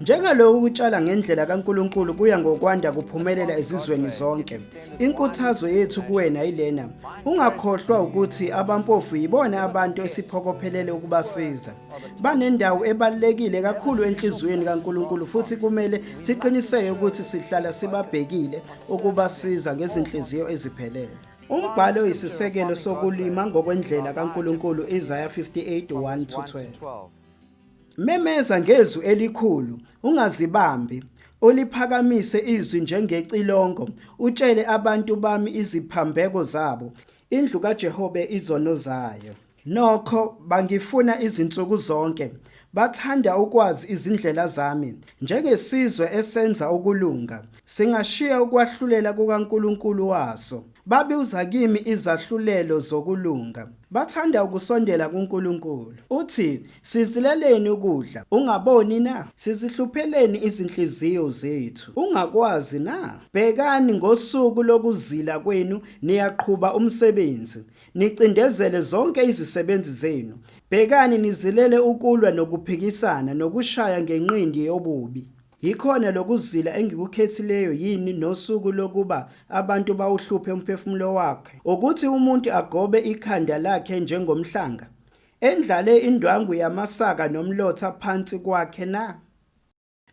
Njengalokhu ukutshala ngendlela kaNkuluNkulu kuya ngokwanda kuphumelela ezizweni zonke. Inkuthazo yethu kuwena yilena, ungakhohlwa ukuthi abampofu yibona abantu esiphokophelele ukubasiza. Banendawo ebalekile kakhulu enhliziyweni kaNkuluNkulu futhi kumele siqiniseke ukuthi sihlala sibabhekile ukubasiza ngezinhliziyo eziphelele. Umbhalo oyisisekelo sokulima ngokwendlela kaNkulunkulu Isaya 58:1-12. Memeza ngezwi elikhulu, ungazibambi, uliphakamise izwi njengecilongo, utshele abantu bami iziphambeko zabo, indlu kaJehobe izono zayo. Nokho, bangifuna izinsuku zonke, bathanda ukwazi izindlela zami. Njengesizwe esenza ukulunga, singashiya ukwahlulela kukaNkulunkulu waso. Babuza kimi izahlulelo zokulunga. Bathanda ukusondela kuNkulunkulu. Uthi, Sizileleni ukudla, ungaboni na? Sizihlupheleni izinhliziyo zethu, ungakwazi na? Bhekani, ngosuku lokuzila kwenu niyaqhuba umsebenzi, nicindezele zonke izisebenzi zenu. Bhekani nizilele ukulwa nokuphikisana nokushaya ngenqindi yobubi. Yikhona lokuzila engikukhethileyo yini nosuku lokuba abantu bawuhluphe umphefumulo wakhe, ukuthi umuntu agobe ikhanda lakhe njengomhlanga, endlale indwangu yamasaka nomlotha phansi kwakhe na?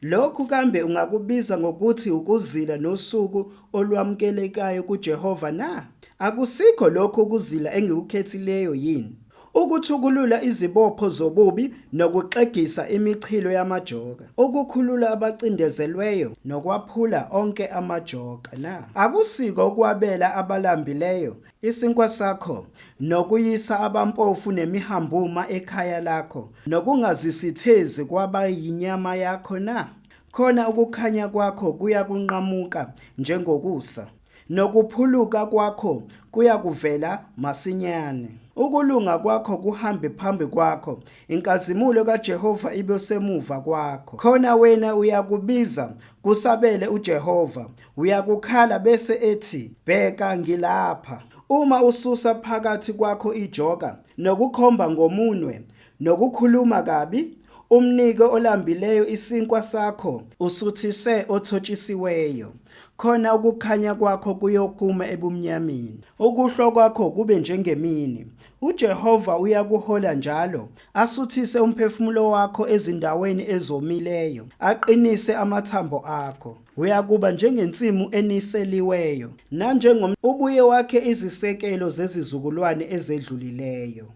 Lokhu kambe ungakubiza ngokuthi ukuzila nosuku olwamukelekayo kuJehova na? Akusikho lokhu ukuzila engikukhethileyo yini? ukuthukulula izibopho zobubi nokuxegisa imichilo yamajoka, ukukhulula abacindezelweyo nokwaphula onke amajoka na? Akusiko ukwabela abalambileyo Isinkwa sakho, nokuyisa abampofu nemihambuma ekhaya lakho, nokungazisithezi kwaba yinyama yakho na? Khona ukukhanya kwakho kuyakunqamuka njengokusa, nokuphuluka kwakho kuyakuvela masinyane. Ukulunga kwakho kuhambe phambi kwakho, inkazimulo kaJehova ibe semuva kwakho. Khona wena uyakubiza, kusabele uJehova, Uyakukhala bese ethi, Bheka ngilapha. Uma ususa phakathi kwakho ijoka nokukhomba ngomunwe nokukhuluma kabi, umnike olambileyo isinkwa sakho, usuthise othotshisiweyo, khona ukukhanya kwakho kuyokuma ebumnyameni, ukuhlwa kwakho kube njengemini. UJehova uyakuhola njalo, asuthise umphefumulo wakho ezindaweni ezomileyo, aqinise amathambo akho. Uyakuba njengensimu eniseliweyo, nanjengom ubuye wakhe izisekelo zezizukulwane ezedlulileyo.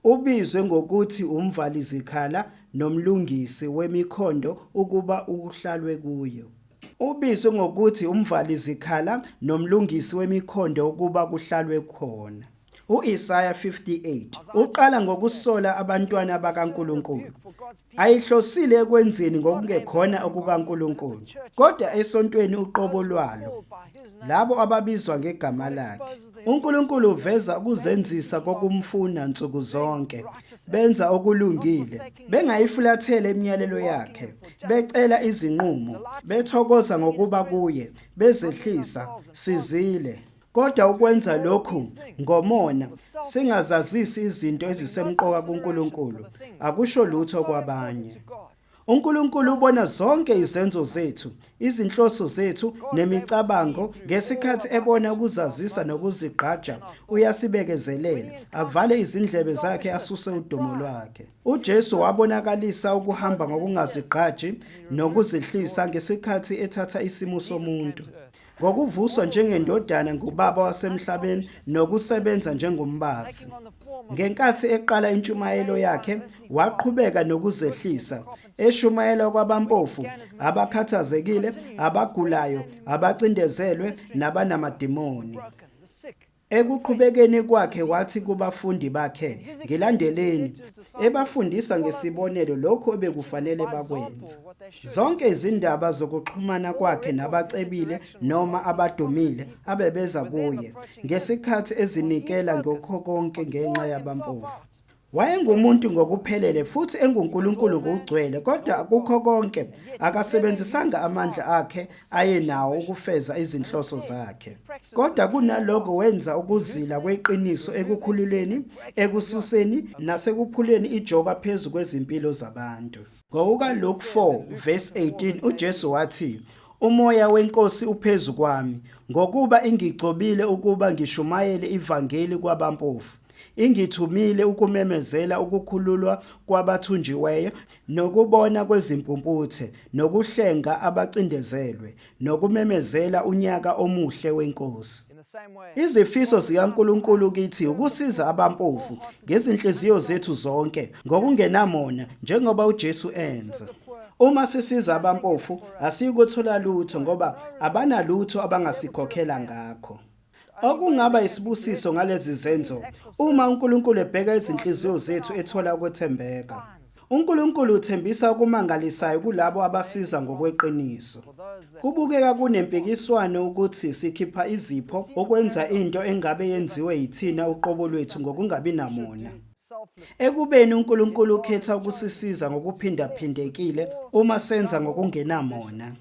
Ubizwe ngokuthi umvalizikhala nomlungisi wemikhondo ukuba uhlalwe kuyo. Ubizwe ngokuthi umvalizikhala nomlungisi wemikhondo ukuba kuhlalwe khona. U-Isaya 58 uqala ngokusola abantwana bakaNkulunkulu. Ayihlosile ekwenzeni ngokungekhona okukaNkulunkulu, kodwa esontweni uqobo lwalo, labo ababizwa ngegama lakhe. UNkulunkulu uveza ukuzenzisa kokumfuna nsuku zonke, benza okulungile, bengayifulathele imiyalelo yakhe, becela izinqumo, bethokoza ngokuba kuye, bezehlisa, sizile. Kodwa ukwenza lokhu ngomona, singazazisi izinto ezisemqoka kuNkulunkulu, akusho lutho kwabanye. UNkulunkulu ubona zonke izenzo zethu, izinhloso zethu nemicabango ngesikhathi ebona ukuzazisa nokuzigqaja, uyasibekezelela, avale izindlebe zakhe asuse udumo lwakhe. UJesu wabonakalisa ukuhamba ngokungazigqaji nokuzihlisa ngesikhathi ethatha isimo somuntu. ngokuvuswa njengendodana ngubaba wasemhlabeni nokusebenza njengombazi. Ngenkathi eqala intshumayelo yakhe, waqhubeka nokuzehlisa, eshumayela kwabampofu, abakhathazekile, abagulayo, abacindezelwe nabanamadimoni. Ekuqhubekeni kwakhe wathi kubafundi bakhe, Ngilandeleni, ebafundisa ngesibonelo lokho ebekufanele bakwenze. Zonke izindaba zokuxhumana kwakhe nabacebile noma abadumile abebeza kuye, ngesikhathi ezinikela ngokho konke ngenxa yabampofu. Wayengumuntu ngokuphelele futhi enguNkulunkulu ngokugcwele, kodwa kukho konke akasebenzisanga amandla akhe ayenawo ukufeza izinhloso zakhe. Kodwa kunaloko wenza ukuzila kweqiniso ekukhululeni, ekususeni nasekuphuleni ijoka phezu kwezimpilo zabantu. NgokukaLuke 4 verse 18 uJesu wathi, Umoya wenkosi uphezu kwami, ngokuba ingigcobile ukuba ngishumayele ivangeli kwabampofu. Ingithumile ukumemezela ukukhululwa kwabathunjiweyo nokubona kwezimpumputhe nokuhlenga abacindezelwe nokumemezela unyaka omuhle weNkosi. Izifiso zikaNkulunkulu kithi ukusiza abampofu ngezinhliziyo zethu zonke ngokungenamona njengoba uJesu enza. Uma sisiza abampofu asiyikuthola lutho ngoba abanalutho abangasikhokhela ngakho. Okungaba isibusiso ngalezi zenzo uma uNkulunkulu ebheka izinhliziyo zethu ethola ukwethembeka. UNkulunkulu uthembisa okumangalisayo kulabo abasiza ngokweqiniso. Kubukeka kunempikiswano ukuthi sikhipha izipho ukwenza into engabe yenziwe yithina uqobo lwethu ngokungabi namona. Ekubeni uNkulunkulu ukhetha ukusisiza ngokuphindaphindekile uma senza ngokungenamona.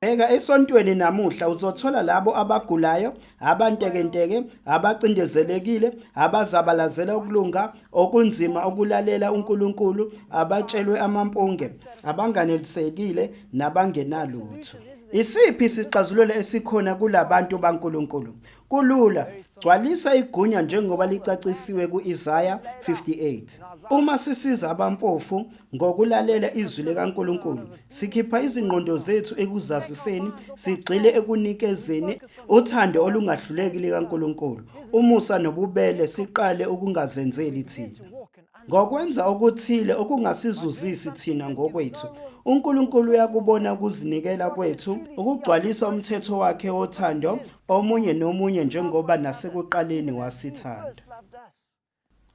Bheka esontweni namuhla uzothola labo abagulayo, abantekenteke, abacindezelekile, abazabalazela ukulunga, okunzima ukulalela uNkulunkulu, abatshelwe amampunge, abanganelisekile nabangenalutho. Isiphi isixazululo esikhona kulabantu baNkulunkulu? Kulula, gcwalisa igunya njengoba licacisiwe ku-Isaya 58. Uma sisiza abampofu ngokulalela izwi likaNkulunkulu, sikhipha izingqondo zethu ekuzaziseni, sigxile ekunikezeni uthando olungahluleki likaNkulunkulu, umusa nobubele siqale ukungazenzeli thina. Ngokwenza okuthile okungasizuzisi thina ngokwethu, uNkulunkulu uyakubona ukuzinikela kwethu, ukugcwalisa umthetho wakhe wothando omunye nomunye njengoba nasekuqaleni wasithanda.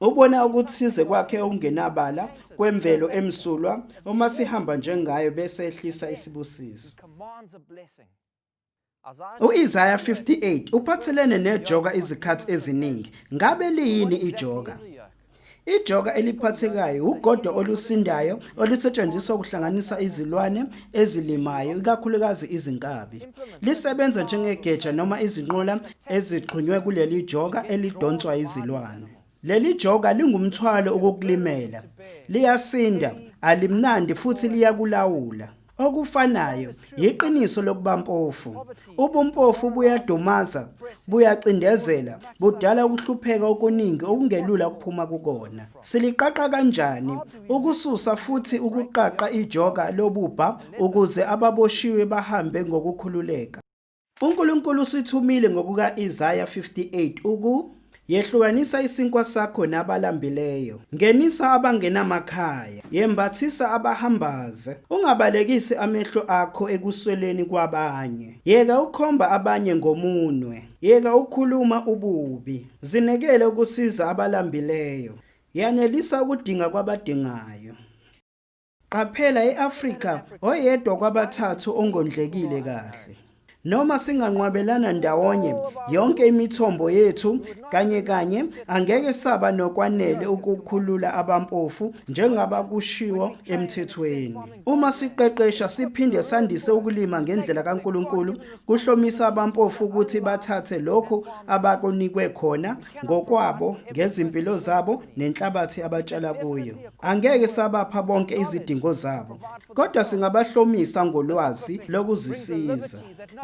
Ubona okuthize kwakhe okungenabala kwemvelo emsulwa uma sihamba njengayo bese ehlisa isibusiso. U-Isaya 58 uphathelene nejoka izikhathi eziningi. Ngabe liyini ijoka? Ijoka eliphathekayo wugodo olusindayo olusetshenziswa ukuhlanganisa izilwane ezilimayo, ikakhulukazi izinkabi. Lisebenza njengegeja noma izinqola ezixhunywe kuleli joka elidonswa izilwane. Leli joka lingumthwalo ukukulimela. Liyasinda, alimnandi futhi liyakulawula. Okufanayo yiqiniso lokuba mpofu. Ubumpofu buyadumaza, buyacindezela, budala ukuhlupheka okuningi okungelula ukuphuma kukona. Siliqaqa kanjani ukususa futhi ukuqaqa ijoka lobubha ukuze ababoshiwe bahambe ngokukhululeka? UNkulunkulu usithumile ngokuka-Isaya 58 uku Yehlukanisa isinkwa sakho nabalambileyo. Ngenisa abangenamakhaya. Yembathisa abahambaze. Ungabalekisi amehlo akho ekusweleni kwabanye. Yeka ukhomba abanye ngomunwe. Yeka ukhuluma ububi. Zinekele ukusiza abalambileyo. Yanelisa ukudinga kwabadingayo. Qaphela e-Afrika oyedwa kwabathathu ongondlekile kahle. Noma singanqwabelana ndawonye yonke imithombo yethu kanye kanye angeke saba nokwanele ukukhulula abampofu njengaba kushiwo emthethweni. Uma siqeqesha siphinde sandise ukulima ngendlela kaNkulunkulu kuhlomisa abampofu ukuthi bathathe lokho abakunikwe khona ngokwabo ngezimpilo zabo nenhlabathi abatshala kuyo angeke sabapha bonke izidingo zabo kodwa singabahlomisa ngolwazi lokuzisiza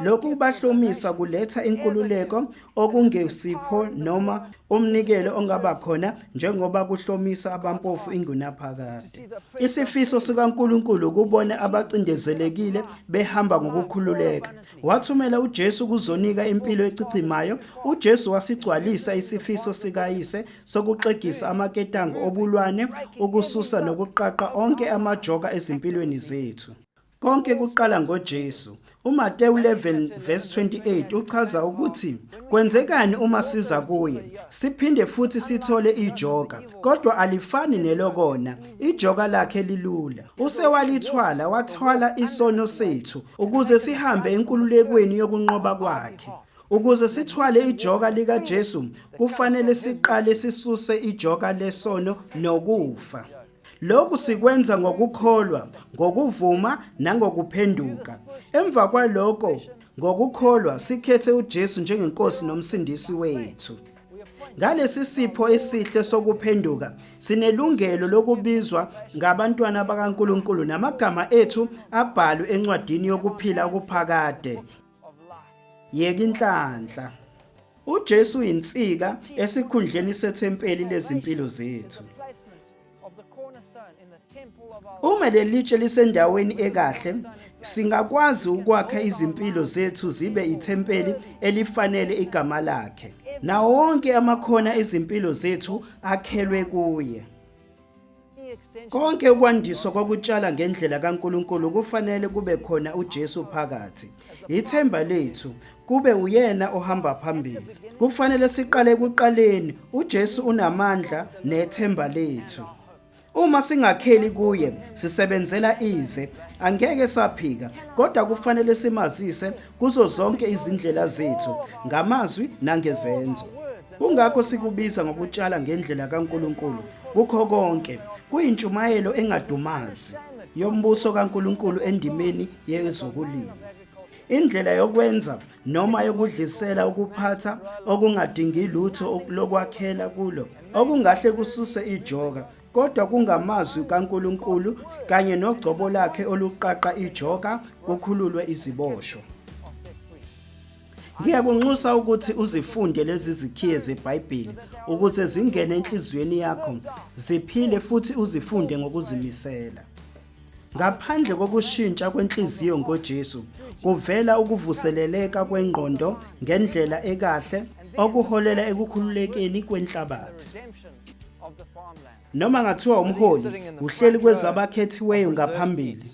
lokhu kubahlomisa kuletha inkululeko okungesipho noma umnikelo ongaba khona njengoba kuhlomisa abampofu ingunaphakade isifiso sikaNkuluNkulu kubona abacindezelekile behamba ngokukhululeka Wathumela uJesu ukuzonika impilo echichimayo. UJesu wasigcwalisa isifiso sikayise sokuxegisa amaketango obulwane, ukususa nokuqaqa onke amajoka ezimpilweni zethu. Konke kuqala ngoJesu. UMatewu 11 verse 28 uchaza ukuthi kwenzekani uma siza kuye. Siphinde futhi sithole ijoka, kodwa alifani nelokona. Ijoka lakhe lilula. Usewalithwala wathwala isono sethu ukuze sihambe enkululekweni yokunqoba kwakhe. Ukuze sithwale ijoka likaJesu, kufanele siqale sisuse ijoka lesono nokufa. Lokhu sikwenza ngokukholwa, ngokuvuma nangokuphenduka. Emva kwaloko, ngokukholwa sikhethe uJesu njengeNkosi nomsindisi wethu. Ngalesi sipho esihle sokuphenduka, sinelungelo lokubizwa ngabantwana bakaNkulunkulu namagama ethu abhalwe encwadini yokuphila okuphakade. Yeka inhlanhla. UJesu yinsika esikhundleni sethempeli lezimpilo zethu. Uma lelitshe lisendaweni ekahle, singakwazi ukwakha izimpilo zethu zibe ithempeli elifanele igama lakhe. Nawo wonke amakhona ezimpilo zethu akhelwe kuye. Konke ukwandiswa kokutshala ngendlela kaNkuluNkulu kufanele kube khona uJesu phakathi. Ithemba lethu kube uyena ohamba phambili. Kufanele siqale ekuqaleni, uJesu unamandla nethemba lethu. Uma singakheli kuye sisebenzela ize angeke saphika kodwa kufanele simazise kuzo zonke izindlela zethu ngamazwi nangezenzo. Kungakho sikubiza ngokutshala ngendlela kaNkuluNkulu kukho konke. Kuyintshumayelo engadumazi yombuso kaNkuluNkulu endimeni yezokulima indlela yokwenza noma yokudlisela ukuphatha okungadingi lutho lokwakhela kulo okungahle kususe ijoka kodwa kungamazwi kaNkuluNkulu kanye nogcobo lakhe oluqaqa ijoka kukhululwe iziboshwa Ngiyakunxusa ukuthi uzifunde lezi zikhiye zeBhayibheli ukuze zingene enhliziyweni yakho, ziphile futhi uzifunde ngokuzimisela. Ngaphandle kokushintsha kwenhliziyo ngoJesu, kuvela ukuvuseleleka kwengqondo ngendlela ekahle okuholela ekukhululekeni kwenhlabathi. Noma ngathiwa umholi uhleli kwezabakhethiweyo ngaphambili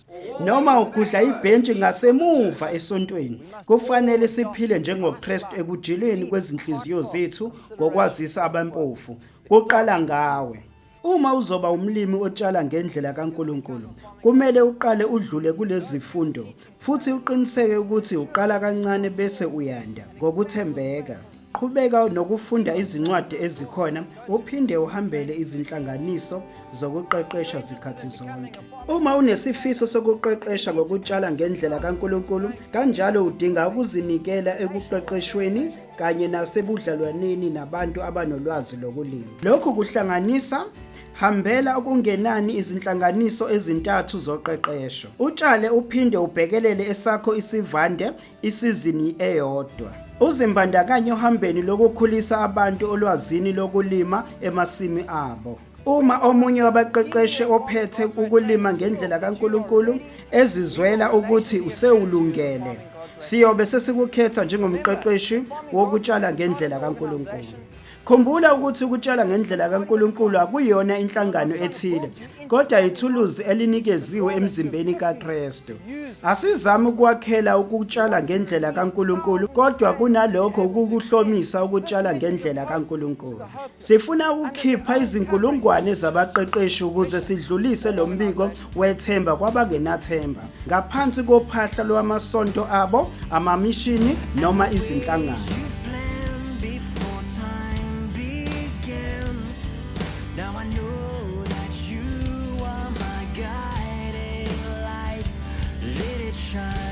noma ugudla ibhentshi ngasemuva esontweni kufanele siphile njengoKristu ekujilweni kwezinhliziyo zethu ngokwazisa abampofu kuqala ngawe Uma uzoba umlimi otshala ngendlela kaNkulunkulu, kumele uqale udlule kulezifundo futhi uqiniseke ukuthi uqala kancane bese uyanda ngokuthembeka. Qhubeka nokufunda izincwadi ezikhona uphinde uhambele izinhlanganiso zokuqeqesha zikhathi zonke. Uma unesifiso sokuqeqesha ngokutshala ngendlela kaNkulunkulu, kanjalo udinga ukuzinikela ekuqeqeshweni kanye nasebudlalwaneni nabantu abanolwazi lokulima. Lokhu kuhlanganisa hambela okungenani izinhlanganiso ezintathu zoqeqesho. Utshale uphinde ubhekelele esakho isivande isizini eyodwa. Uzimbandakanye ohambeni lokukhulisa abantu olwazini lokulima emasimi abo. Uma omunye wabaqeqeshi ophethe ukulima ngendlela kaNkulunkulu ezizwela ukuthi usewulungele, siyobe sesikukhetha njengomqeqeshi wokutshala ngendlela kaNkulunkulu. Khumbula ukuthi ukutshala ngendlela kaNkulunkulu akuyona inhlangano ethile, kodwa ithuluzi elinikeziwe emzimbeni kaKristu. Asizami ukwakhela ukutshala ngendlela kaNkulunkulu, kodwa kunalokho ukukuhlomisa ukutshala ngendlela kaNkulunkulu. Sifuna ukukhipha izinkulungwane zabaqeqeshi ukuze sidlulise lo mbiko wethemba kwabangenathemba ngaphansi kophahla lwamasonto abo, amamishini noma izinhlangano. shine.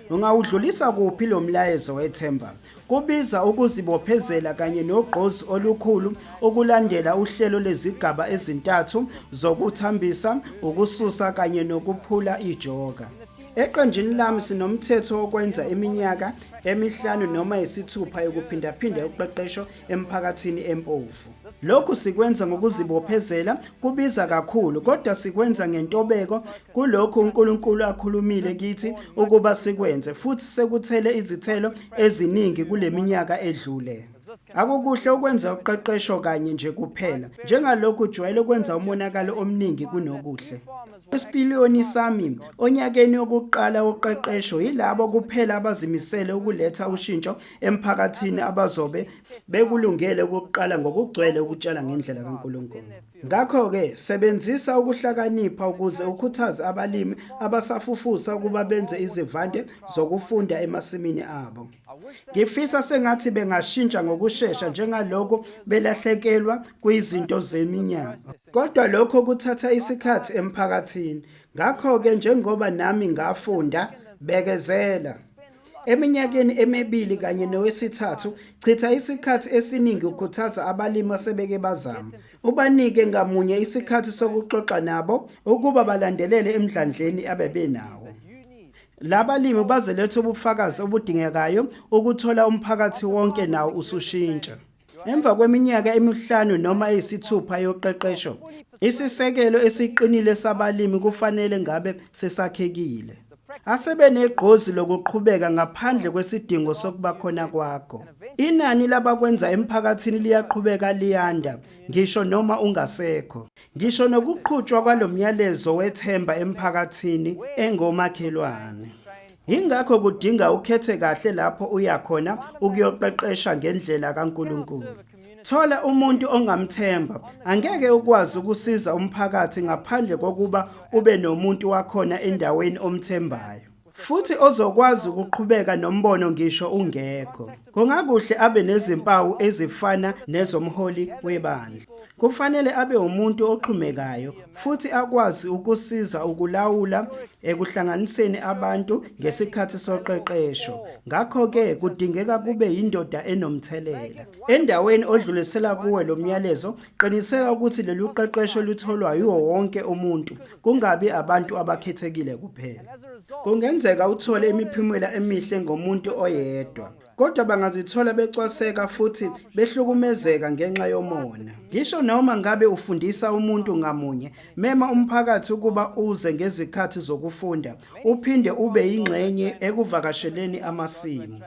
Ungawudlulisa kuphi lo mlayezo wethemba? Kubiza ukuzibophezela kanye nogqozi olukhulu ukulandela uhlelo lezigaba ezintathu zokuthambisa, ukususa kanye nokuphula ijoka. Eqenjini lami sinomthetho wokwenza iminyaka emihlanu noma yisithupha yokuphindaphinda uqeqesho emphakathini empofu. Lokhu sikwenza ngokuzibophezela, kubiza kakhulu kodwa sikwenza ngentobeko kulokhu uNkulunkulu akhulumile kithi ukuba sikwenze futhi sekuthele izithelo eziningi kuleminyaka edlule. Akukuhle ukwenza uqeqesho kanye nje kuphela, njengalokhu ujwayele ukwenza umonakalo omningi kunokuhle. Isipiliyoni sami onyakeni wokuqala woqeqesho yilabo kuphela abazimisele ukuletha ushintsho emphakathini abazobe bekulungele ukuqala ngokugcwele ukutshala ngendlela kaNkulunkulu. Ngakho-ke sebenzisa ukuhlakanipha ukuze ukhuthaze abalimi abasafufusa ukuba benze izivande zokufunda emasimini abo. Ngifisa sengathi bengashintsha ngokushesha njengalokho belahlekelwa kwizinto zeminyaka. Kodwa lokho kuthatha isikhathi emphakathini. Ngakho-ke njengoba nami ngafunda, bekezela. Eminyakeni emibili kanye nowesithathu, chitha isikhathi esiningi ukhuthaza abalimi asebeke bazama. Ubanike ngamunye isikhathi sokuxoxa nabo ukuba balandelele emdlandleni abebenawo. Laba limi bazoletha ubufakazi obudingekayo ukuthola umphakathi wonke nawo usushintsha. Emva kweminyaka emihlanu noma eyisithupha yoqeqesho, isisekelo esiqinile sabalimi kufanele ngabe sesakhekile. Asebenegqozi lokuqhubeka ngaphandle kwesidingo sokuba khona kwakho. Inani labakwenza emphakathini liyaqhubeka liyanda ngisho noma ungasekho. Ngisho nokuqhutshwa kwalomyalezo wethemba emphakathini engomakhelwane. Yingakho kudinga ukhethe kahle lapho uya khona ukuyoqeqesha ngendlela kaNkulunkulu. Thola umuntu ongamthemba. Angeke ukwazi ukusiza umphakathi ngaphandle kokuba ube nomuntu wakhona endaweni omthembayo futhi ozokwazi ukuqhubeka nombono ngisho ungekho. Kungakuhle abe nezimpawu ezifana nezomholi webandla. Kufanele abe umuntu oxhumekayo futhi akwazi ukusiza ukulawula ekuhlanganiseni abantu ngesikhathi soqeqesho. Ngakho-ke kudingeka kube yindoda enomthelela. Endaweni odlulisela kuwe lo myalezo, Qiniseka ukuthi lolu qeqesho olutholwa yiwo wonke umuntu, kungabi abantu abakhethekile kuphela. Kungenzeka uthole imiphumela emihle ngomuntu oyedwa, kodwa bangazithola becwaseka futhi behlukumezeka ngenxa yomona. Ngisho noma ngabe ufundisa umuntu ngamunye, mema umphakathi ukuba uze ngezikhathi zokufunda, uphinde ube yingxenye ekuvakasheleni amasimu.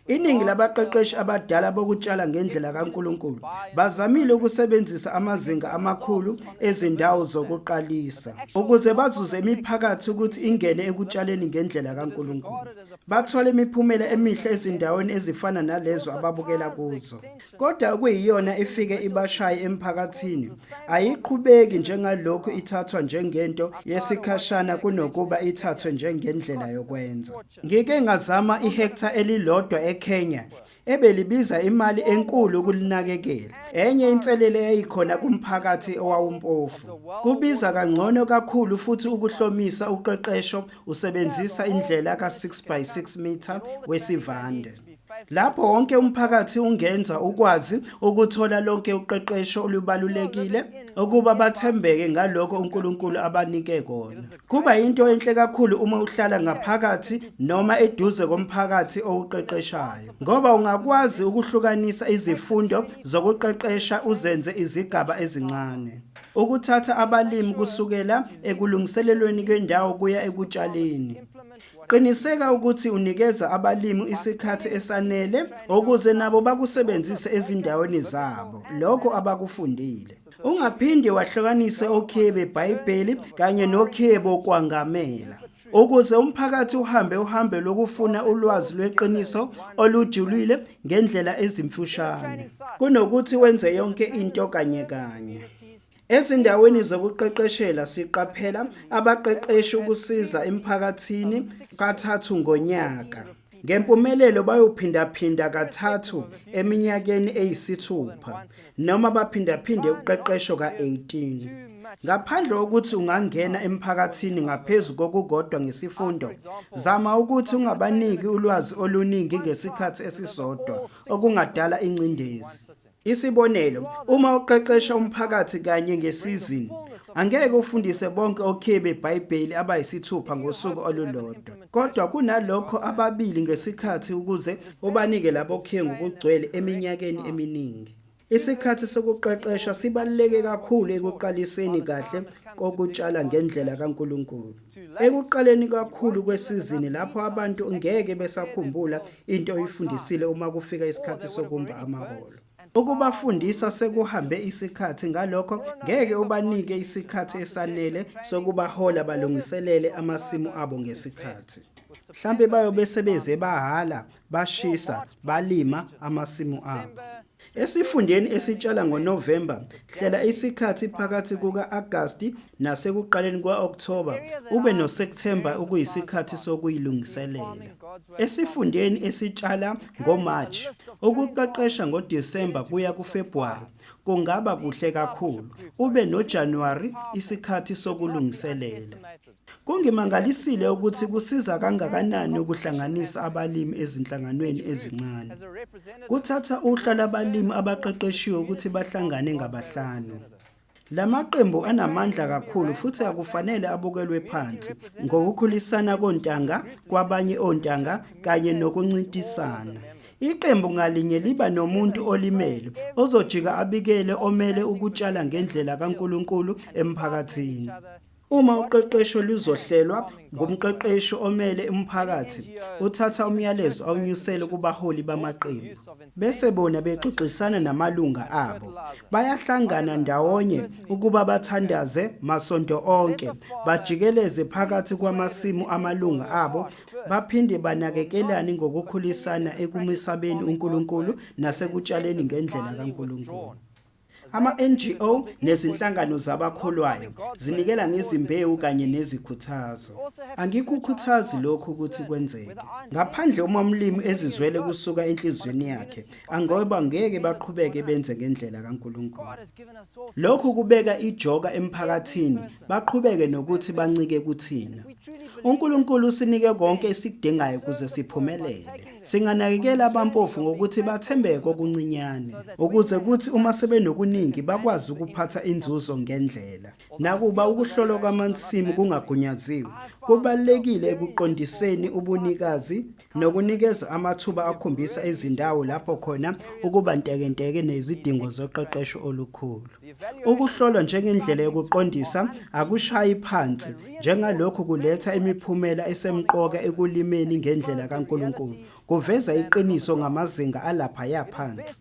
Iningi labaqeqeshi abadala bokutshala ngendlela kaNkulunkulu bazamile ukusebenzisa amazinga amakhulu ezindawo zokuqalisa ukuze bazuze imiphakathi ukuthi ingene ekutshaleni ngendlela kaNkulunkulu. Bathola imiphumela emihle ezindaweni ezifana nalezo ababukela kuzo. Kodwa okuyiyona ifike ibashaye emphakathini ayiqhubeki njengalokhu ithathwa njengento yesikhashana kunokuba ithathwe njengendlela yokwenza. Ngike ngazama ihektha elilodwa eKenya ebelibiza imali enkulu ukulinakekela. Enye inselele eyayikhona kumphakathi owawumpofu. Kubiza kangcono kakhulu futhi ukuhlomisa uqeqesho usebenzisa indlela ka-6 by 6 meter wesivande. Lapho wonke umphakathi ungenza ukwazi ukuthola lonke uqeqesho olubalulekile ukuba bathembeke ngaloko uNkulunkulu abanike kona. Kuba into enhle kakhulu uma uhlala ngaphakathi noma eduze komphakathi owuqeqeshayo ngoba ungakwazi ukuhlukanisa izifundo zokuqeqesha uzenze izigaba ezincane. Ukuthatha abalimi kusukela ekulungiselelweni kwendawo kuya ekutshaleni Qiniseka ukuthi unikeza abalimu isikhathi esanele ukuze nabo bakusebenzise ezindaweni zabo lokho abakufundile. Ungaphinde wahlukanise okhiye beBhayibheli kanye nokhiye bokwangamela. Ukuze umphakathi uhambe uhambe lokufuna ulwazi lweqiniso olujulile ngendlela ezimfushane kunokuthi wenze yonke into kanye kanye. Ezindaweni zokuqeqeshela siqaphela abaqeqeshi ukusiza emphakathini kathathu ngonyaka. Ngempumelelo bayophindaphinda kathathu eminyakeni eyisithupha noma baphindaphinde uqeqesho ka-18. Ngaphandle kokuthi ungangena emphakathini ngaphezu kokukodwa ngesifundo, zama ukuthi ungabaniki ulwazi oluningi ngesikhathi esisodwa okungadala ingcindezi. Isibonelo, uma uqeqesha umphakathi kanye ngesizini, angeke ufundise bonke okhiye beBhayibheli abayisithupha ngosuku olulodwa, kodwa kunalokho ababili ngesikhathi ukuze ubanike labo khiye ngokugcwele eminyakeni eminingi. Isikhathi sokuqeqesha sibaluleke kakhulu ekuqaliseni kahle kokutshala ngendlela kaNkulunkulu. Ekuqaleni kakhulu kwesizini lapho abantu ngeke besakhumbula into oyifundisile uma kufika isikhathi sokumba amaholo. Ukubafundisa sekuhambe isikhathi ngalokho ngeke ubanike isikhathi esanele sokubahola balungiselele amasimu abo ngesikhathi. Mhlampe bayobe sebeze bahala, bashisa, balima amasimu abo. Esifundeni esitshala ngoNovemba, hlela isikhathi phakathi kuka-Agasti nasekuqaleni kwa-Okthoba ube noSepthemba okuyisikhathi sokuyilungiselela. Esifundeni esitshala ngoMarch, ukuqeqesha ngoDisemba kuya kuFebhuwari kungaba kuhle kakhulu, ube noJanuwari isikhathi sokulungiselela. Kungimangalisile ukuthi kusiza kangakanani ukuhlanganisa abalimi ezinhlanganweni ezincane. Kuthatha uhla labalimi abaqeqeshiwe ukuthi bahlangane ngabahlanu. La maqembu anamandla kakhulu futhi akufanele abukelwe phansi ngokukhulisana kontanga kwabanye ontanga kanye nokuncintisana. Iqembu ngalinye liba nomuntu olimele ozojika abikele omele ukutshala ngendlela kaNkulunkulu emphakathini. Uma uqeqesho luzohlelwa ngumqeqeshi omele umphakathi, uthatha umyalezo awunyusele kubaholi bamaqembu. Bese bona bexoxisana namalunga abo. Bayahlangana ndawonye ukuba bathandaze masonto onke, bajikeleze phakathi kwamasimu amalunga abo, baphinde banakekelane ngokukhulisana ekumisabeni uNkulunkulu nasekutshaleni ngendlela kaNkulunkulu. Ama-NGO nezinhlangano zabakholwayo zinikela ngezimbewu kanye nezikhuthazo. Angikukhuthazi lokhu ukuthi kwenzeke. Ngaphandle uma umlimi ezizwele kusuka enhliziyweni yakhe, angoba ngeke baqhubeke benze ngendlela kaNkulunkulu. Lokhu kubeka ijoka emphakathini baqhubeke nokuthi bancike kuthina. UNkulunkulu usinike konke esikudingayo ukuze siphumelele. Singanakekela abampofu ngokuthi bathembeke okuncinyane ukuze kuthi uma sebenokuningi bakwazi ukuphatha inzuzo ngendlela. Nakuba ukuhlolwa kwamansimu kungagunyaziwe, kubalulekile ekuqondiseni ubunikazi nokunikeza amathuba akhombisa izindawo lapho khona ukuba ntekenteke nezidingo zoqeqesho olukhulu. Ukuhlolwa njengendlela yokuqondisa akushayi phansi njengalokhu kuletha imiphumela esemqoka ekulimeni ngendlela kaNkulunkulu, kuveza iqiniso ngamazinga alaphaya phansi.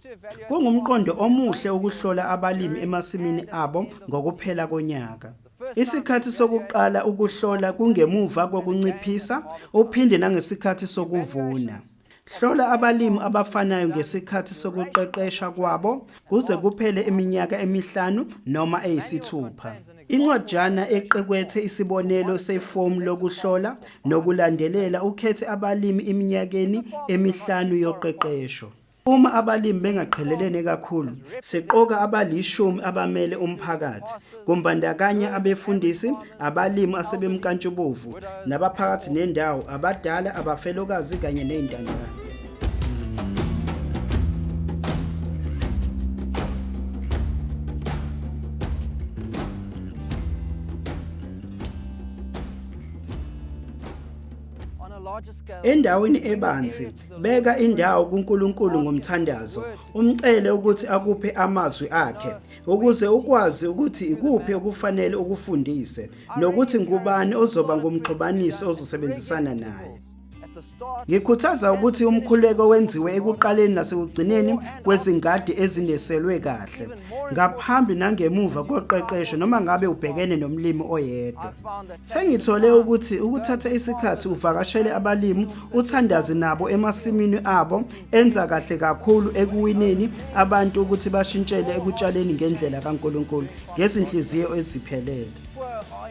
Kungumqondo omuhle ukuhlola abalimi emasimini abo ngokuphela konyaka. Isikhathi sokuqala ukuhlola kungemuva kokunciphisa uphinde nangesikhathi sokuvuna. Hlola abalimi abafanayo ngesikhathi sokuqeqesha kwabo kuze kuphele iminyaka emihlanu noma eyisithupha. Incwajana eqekwethe isibonelo sefomu lokuhlola nokulandelela ukhethe abalimi eminyakeni emihlanu yoqeqesho. Uma abalimi bengaqhelelene kakhulu, siqoka abalishumi abamele umphakathi, kumbandakanya abefundisi, abalimi asebemnkantshubovu, nabaphakathi nendawo, abadala, abafelokazi kanye nezintandane. endaweni ebanzi Beka indawo kuNkulunkulu ngomthandazo, umcele ukuthi akuphe amazwi akhe ukuze ukwazi ukuthi ikuphi okufanele ukufundise nokuthi ngubani ozoba ngumxhubanisi ozosebenzisana naye. Ngikhuthaza ukuthi umkhuleko wenziwe ekuqaleni nasekugcineni kwezingadi ezineselwe kahle, ngaphambi nangemuva koqeqesho noma ngabe ubhekene nomlimi oyedwa. Sengithole ukuthi ukuthatha isikhathi uvakashele abalimi uthandazi nabo emasimini abo enza kahle kakhulu ekuwineni abantu ukuthi bashintshele ekutshaleni ngendlela kaNkuluNkulu ngezinhliziyo eziphelele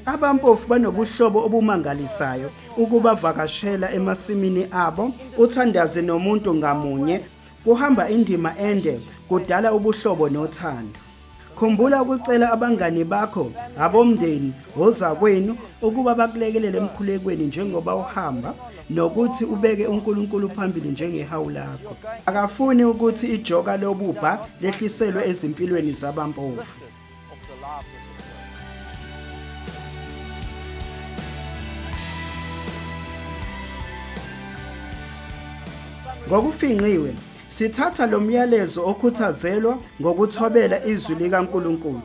abampofu banobuhlobo obumangalisayo ukubavakashela emasimini abo uthandazi nomuntu ngamunye kuhamba indima ende kudala ubuhlobo nothando Khumbula ukucela abangani bakho, abomndeni, ozakwenu ukuba bakulekelele emkhulekweni njengoba uhamba nokuthi ubeke uNkulunkulu phambili njengehawu lakho. Akafuni ukuthi ijoka lobubha lehliselwe ezimpilweni zabampofu. Ngokufingqiwe Sithatha lo myalezo okhuthazelwa ngokuthobela izwi likaNkulunkulu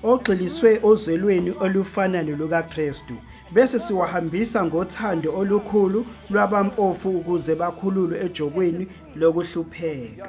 ogxiliswe ozwelweni olufana nolukaKristu bese siwahambisa ngothando olukhulu lwabampofu ukuze bakhululwe ejokweni lokuhlupheka